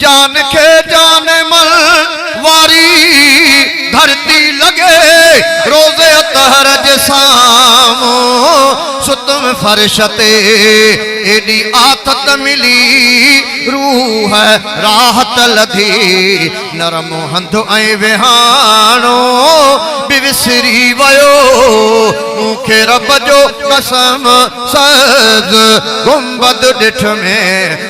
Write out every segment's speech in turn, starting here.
جان کي جان مل واري ڌرتي لڳي روز اطهر جي سامهون ستم فرش تي ايڏي آٿت ملي روح راحت لڌي نرم هنڌ ۽ وهاڻو به وسري ويو مون کي رب جو قسم سبز گنبد ڏٺ ۾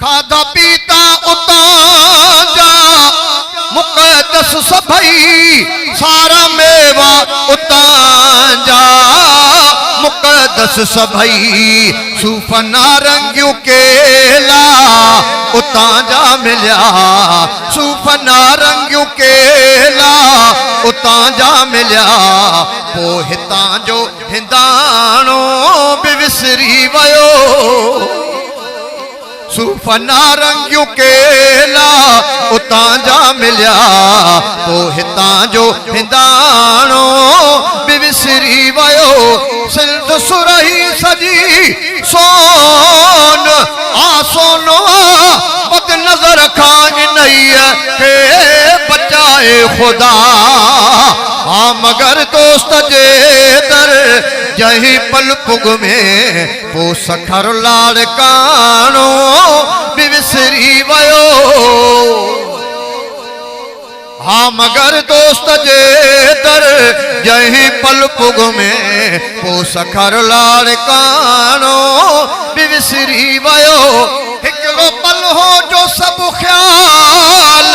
کاڌا پيتا اتان جا مقدس سڀئي، سارا ميوا اتان جا مقدس سڀئي، صوف نارنگيون ڪيلا اتان جا مليا، صوف نارنگيون ڪيلا اتان جا مليا، پوء هتان جو هنداڻو به وسري ويو. صوف نارنگيون ڪيلا اتان جا مليا پو هتان جو هنداڻو به وسري ويو سنڌ سرهي سڄي سون آ سونو آ بد نظر کان انهيء کي بچائي خدا ها مگر دوست جي در جنهن پل پڳ ۾ پوء سکر لاڙڪاڻو به وسري ويو ها مگر دوست جي در جنهن پل پڳ ۾ پوء سکر لاڙڪاڻو به وسري ويو هڪڙو پل هو جو سڀ خيال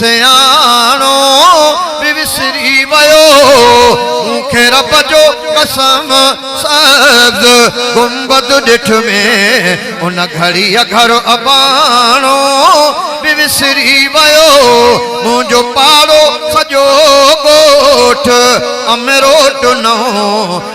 سياڻو به وسري ويو مون کي رب جو قسم سبز گنبد ڏٺ ۾ ان گهڙيء گهر اباڻو به وسري ويو منهنجو پاڙو سڄو ڳوٺ امروٽ نئون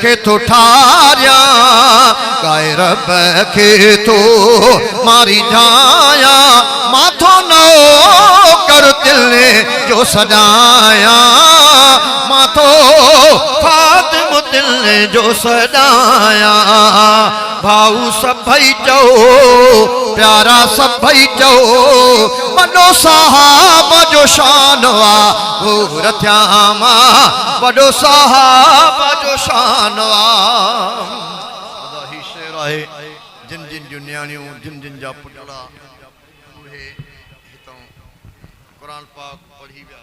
کي ٿو ٺاريان، ڳائي رب کي ٿو ماريجايان، مان ٿو نوڪر دل جو سڏايان، مان ٿو خادم دل جو سڏايان، ڀائو سڀئي چئو، پيارا سڀئي چئو، وڏو صحابه جو شان آ. حور ٿيا مان وڏو صحابه جو شان آ ادا هي شعر آهي جن جن جون نياڻيون جن جن جا پٽڙا اهي هتان قرآن پاڪ پڙهي ويا